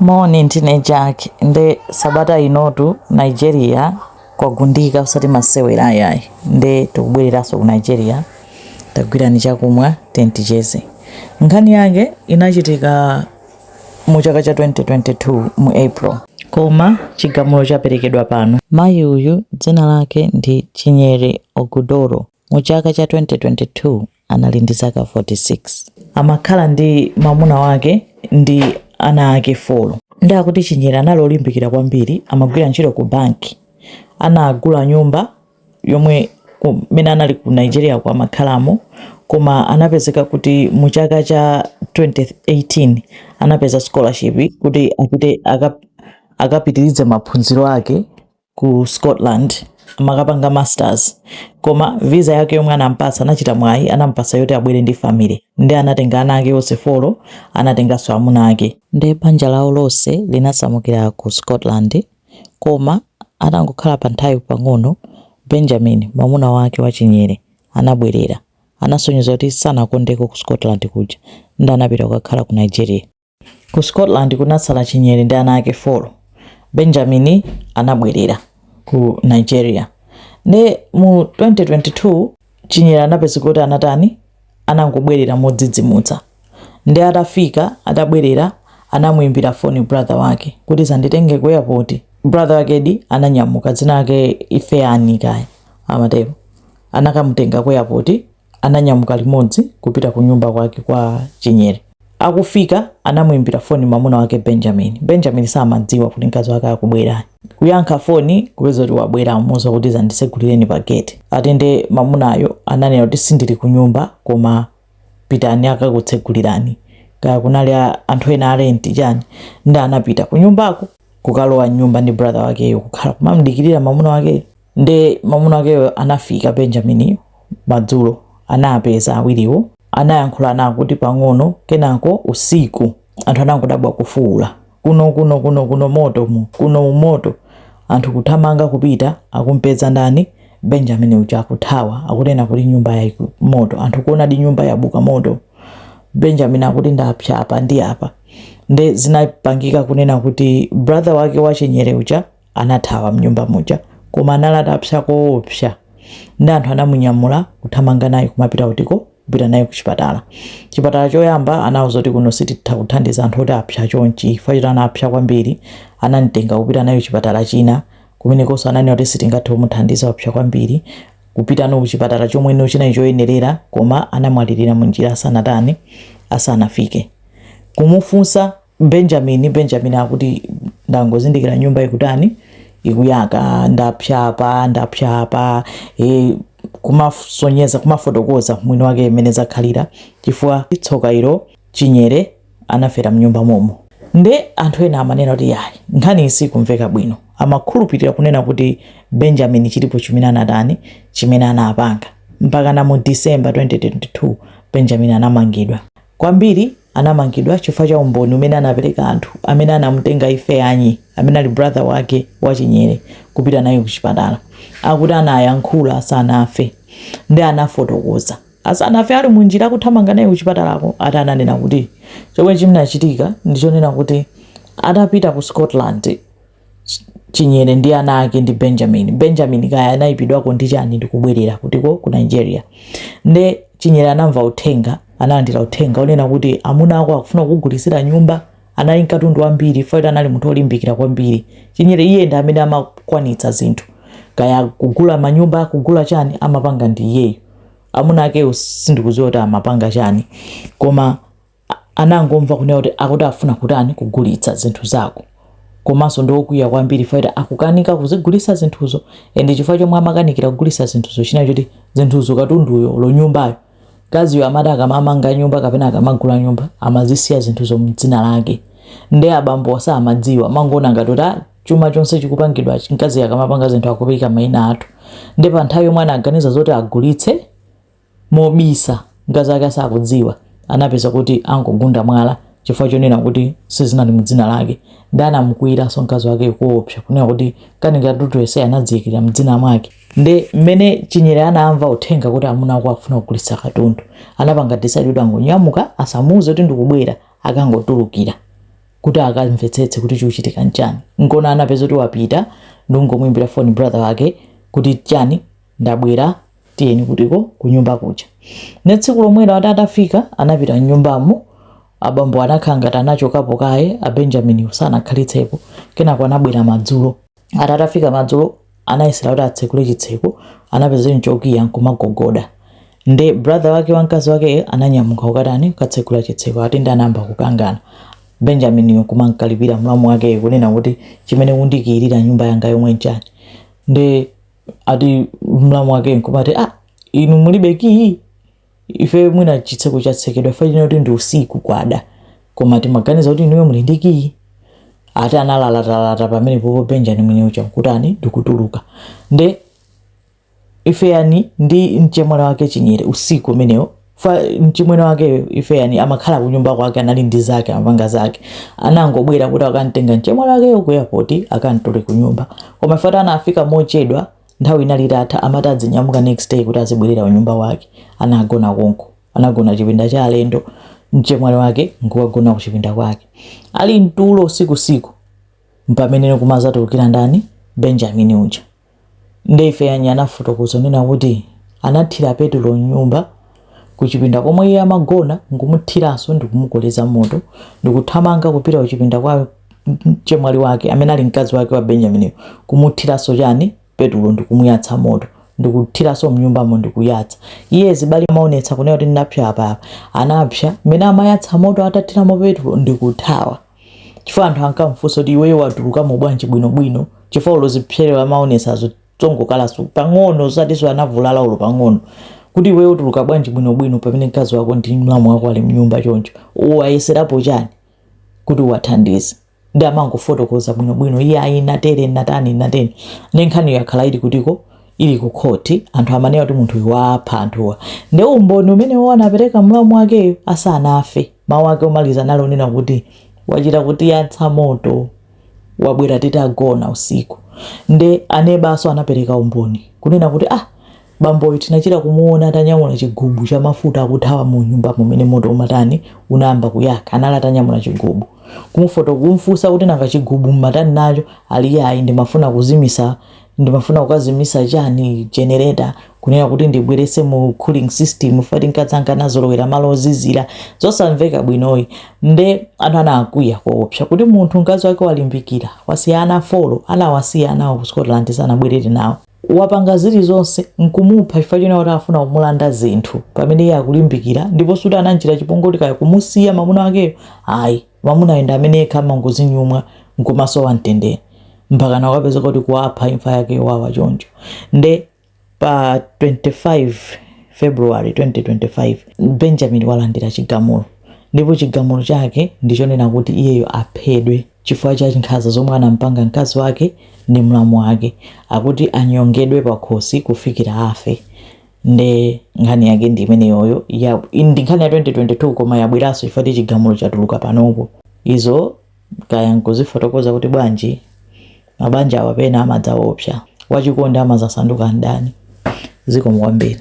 Moni ndine Jack nde sabata inotu Nigeria kwagundika usati masewera ayayi nde tikubwereranso ku Nigeria tagwirani chakumwa tenticheze nkhani yake inachitika mu chaka cha 2022 mu April koma chigamulo chaperekedwa pano mayi uyu dzina lake ndi Chinyere Ogudoro mu chaka cha 2022 anali ndi zaka 46. Amakhala ndi mamuna wake ndi ana ake folo. Ndi akuti Chinyere anali olimbikira kwambiri, amagwira ntchito ku banki. Anagula nyumba yomwe kumene anali ku Nigeria kumakhalamo koma anapezeka kuti mu chaka cha 2018 anapeza scholarship kuti apite akapitirize maphunziro ake ku scotland amakapanga masters koma visa yake yomwe anampatsa anachita mwayi anampatsa yoti abwere ndi family ndi anatenga ana ake onse folo anatenganso amuna ake nde banja lawo lonse linasamukira ku scotland koma atangokhala pa nthawi pang'ono benjamin mwamuna wake wa Chinyere anabwerera anasonyeza kuti sanakondeko ku scotland kuja ndi anapita kukakhala ku nigeria Ku Scotland kunatsala Chinyere ndi ana ake folo. Benjamin anabwerera ku Nigeria. Nde mu 2022 Chinyere anapezeka kuti anatani, anangobwerera modzidzimutsa. Nde atafika, atabwerera anamuimbira foni brother wake kuti dzanditenge ku airport. Brother wakedi ananyamuka, dzina lake Ifeani kaya amatero, anakamutenga ku airport. ananyamuka limodzi kupita kunyumba kwake kwa Chinyere. Akufika anamuimbira foni mamuna wake Benjamin. Benjamin samadziwa kuti mkazi wake akubwera. Kuyankha foni kupeza kuti wabwera amuuza kuti dzanditsegulireni pa gate. Atende mamunayo ananena kuti sindili kunyumba koma pitani akakutsegulirani. Kaya kunali anthu ena a rent chani ndi anapita kunyumbako kukalowa nyumba ndi brother wakeyo kukhala kumamdikirira mamuna wake. Nde mamuna wakeyo anafika Benjamin madzulo, anapeza awiriwo, anayankhula nawo akuti pang'ono, kenako usiku anthu anangodabwa kufuula, kuno kuno kuno kuno moto kuno moto, anthu kuthamanga kupita akumpeza ndani Benjamin uja akuthawa, akunena kuti nyumba ya moto, anthu kuonadi nyumba yabuka moto, Benjamin akuti ndapsa apa ndi apa, nde zinapangika kunena kuti brother wake wa Chinyere uja Anathawa mnyumba muja koma anali atapsya koopsya nde anthu anamunyamula kuthamanga naye kumapita kutiko? Kupita naye kuchipatala. Chipatala choyamba anauza kuti kuno sititha kuthandiza anthu oti apsya chonchi chifukwa choti anapsya kwambiri anamtenga kupita naye chipatala china kumenekonso ananena kuti sitingathe kumuthandiza wapsya kwambiri kupita naye kuchipatala chomweno chinali choyenerera koma anamwalirira munjira asanatani asanafike. Kumufunsa. Benjamin, Benjamin akuti, ndangozindikira nyumba ikutani, ikuyaka, ndapsa apa, ndapsa apa, e, kumasonyeza, kumafotokoza mwini wake mmene zakhalira, chifukwa tsoka ilo chinyere anafera mnyumba momo. Nde anthu ena amanena kuti yayi, nkhani isikumveka bwino, amakhulupirira kunena kuti Benjamin chilipo chimene anatani, chimene anapanga mpaka na mu December 2022 Benjamin anamangidwa kwambiri anamangidwa chifukwa cha umboni umene anapereka anthu amene anamutenga ifeanyi amene ali brother wake wa chinyere kupita naye kuchipatala akuti anayankhula asanafe nde anafotokoza asanafe ali munjira kuthamanga naye kuchipatalako ati ananena kuti chomwe chinachitika ndichonena kuti atapita ku scotland Chinyere ndi ana ake ndi Benjamin. Benjamin kaya anaipidwako ndi chani ndi kubwerera kutiko ku Nigeria. Nde Chinyere anamva uthenga, analandira uthenga onena kuti amuna ako akufuna kukugulitsira nyumba, anali ndi katundu wambiri chifukwa choti anali munthu olimbikira kwambiri. Chinyere iye ndi amene amakwanitsa zinthu. Kaya kugula manyumba, kugula chani amapanga ndi iyeyo. Amuna akewo sindikudziwa kuti amapanga chani. Koma anangomva kunena kuti akuti afuna kutani kugulitsa zinthu zako komanso ndi okwiya kwambiri chifukwa choti akukanika kuzigulitsa zinthuzo and chifukwa chomwe amakanikira kugulitsa zinthuzo chinali choti zinthuzo katunduyo olo nyumbayo mkaziyo amati akamamanga nyumba kapena akamagula nyumba amazisiya zinthuzo mdzina lake nde abambo samadziwa amangoona ngati kuti "Ah, chuma chonse chikupangidwa mkazi akamapanga zinthu akuika maina athu nde pa nthawi yomwe anaganiza zoti agulitse Mobisa, mkazi wake asakudziwa, anapeza kuti angogunda mwala chifukwa chonena kuti sizinali mu dzina lake. Ndiye anamukwiyiranso mkazi wake koopsa kunena kuti kani katundu yense anadziikira m'dzina mwake. Nde mmene Chinyere anamva uthenga kuti amuna ako akufuna kugulitsa katundu, anapanga decide kuti angonyamuka asamuuze kuti ndikubwera akangotulukira kuti akamvetsetse kuti chikuchitika n'chani. N'kuona anapeza kuti wapita ndi kungomuimbira foni brother wake kuti chani, ndabwera. tiyeni kutiko kunyumba kuja nde tsiku lomwelo ati atafika anapita mnyumbamo abambo anakhala ngati anachokapo kaye a benjaminiwo sanakhalitsepo kenako anabwera madzulo ati atafika madzulo anayesera kuti atsekule chitseko anapeza nchokiya nkumagogoda nde brother wake wa mkazi wake ananyamuka kukatani kukatsekula chitseko ati ndi anayamba kukangana benjaminiyo kumankalipira mlamu wake kunena kuti chimene mukundikiyira nyumba yangayomwe nchani nde ati mlamu wake nkumati ah, inu mulibe kiyi ife mwina chitseko chatsekedwa ife tinaona kuti ndi usiku kwada koma timaganiza kuti inuyo muli ndi kiyi ati analalatalata pamenepopo benjamin uja nkutani ndikutuluka nde ifeanyi ndi mchemwali wake chinyere usiku umenewo fa mchimwene wakeyo ifeanyi amakhala kunyumba kwake anali ndi zake amapanga zake anangobwera kuti akamtenga mchemwali wakeyo ku airport akamtule ku nyumba koma fati anafika mochedwa nthawi inali itatha amati adzinyamuka next day kuti azibwerera kunyumba kwake anagona konko anagona chipinda cha alendo mchemwali wake nkukagona ku chipinda kwake ali mtulo usiku usiku mpamene kumazatulukira ndani benjamini uja Nde Ifeanyi anafotokoza kunena kuti anathira petulo m'nyumba, kuchipinda komwe iye amagona n'kumuthiranso ndikumukoleza moto ndikuthamanga kupita kuchipinda kwa mchemwali wake amene ali mkazi wake wa Benjaminiyo kumuthiranso chani petulo ndikumuyatsa moto ndikuthiranso m'nyumbamo ndikuyatsa. Iye zibala amaonetsa kunena kuti ndinapsya apa apa anapsya mmene amayatsa moto atathiramo petulo ndikuthawa. chifukwa anthu ankamfunsa kuti iweyo watulukamo bwanji bwinobwino chifukwa olo zipsere amaonesazo tongokalaso pang'ono usatiso anavulala olo pang'ono kuti iweyo utuluka bwanji bwinobwino pamene mkazi wako ndi mlamu wako ali mnyumba choncho uwayeserapo chani kuti uwathandize nde amangofotokoza bwinobwino iye ayi natere natani natani nde nkhaniyo yakhala ili ku court ko ili ku court anthu amanena kuti munthu uyu wapha anthuwa nde umboni umenewo anapereka mlamu wakeyo asanafe mawu ake omaliza anali onena kuti wachita kutiyatsa moto wabwera titagona usiku nde anebaso anapereka umboni kunena kuti ah bamboyu tinachita kumuona atanyamula chigubu cha mafuta akuthawa mu nyumbamo mmene moto umatani unayamba kuyaka anali atanyamula chigubu kumufoto kumfunsa kuti nanga chigubu mmatani nacho ali ayi ndimafuna kuzimisa ndimafuna kukazimisa chani generator kunena kuti ndibwerese mu cooling system fati mkazanga anazolowera malo ozizira zosamveka bwinoyi nde anthu anakwiya koopsa kuti munthu mkazi wake walimbikira wasiya ana folo anawasiya anawo ku scotland sanabwerere nawo wapanga zilizonse nkumupha chifukwa chonena kuti afuna kumulanda zinthu pamene iye akulimbikira ndipo suti anamchita chipongwe choti kaya kumusiya mamuna wakeyo ayi Mwamunayo ndi amene yekha amangozinyumwa nkumasowa mtendere mpakana kukapezeka kuti kuwapha imfa yake yowawa choncho. Nde pa 25 February 2025 Benjamin walandira chigamulo ndipo chigamulo chake ndi chonena kuti iyeyo aphedwe chifukwa cha nkhanza zomwe anampanga mkazi wake ndi mlamu wake. Akuti anyongedwe pakhosi kufikira afe. nde nkhani yake ndi imeneyoyo ndi nkhani ya 2022 koma yabweranso chifukwa ti chigamulo chatuluka panopo izo kaya nkuzifotokoza kuti bwanji mabanja awa pena amadzaopsa wachikondi amazasanduka mdani zikomo kwambiri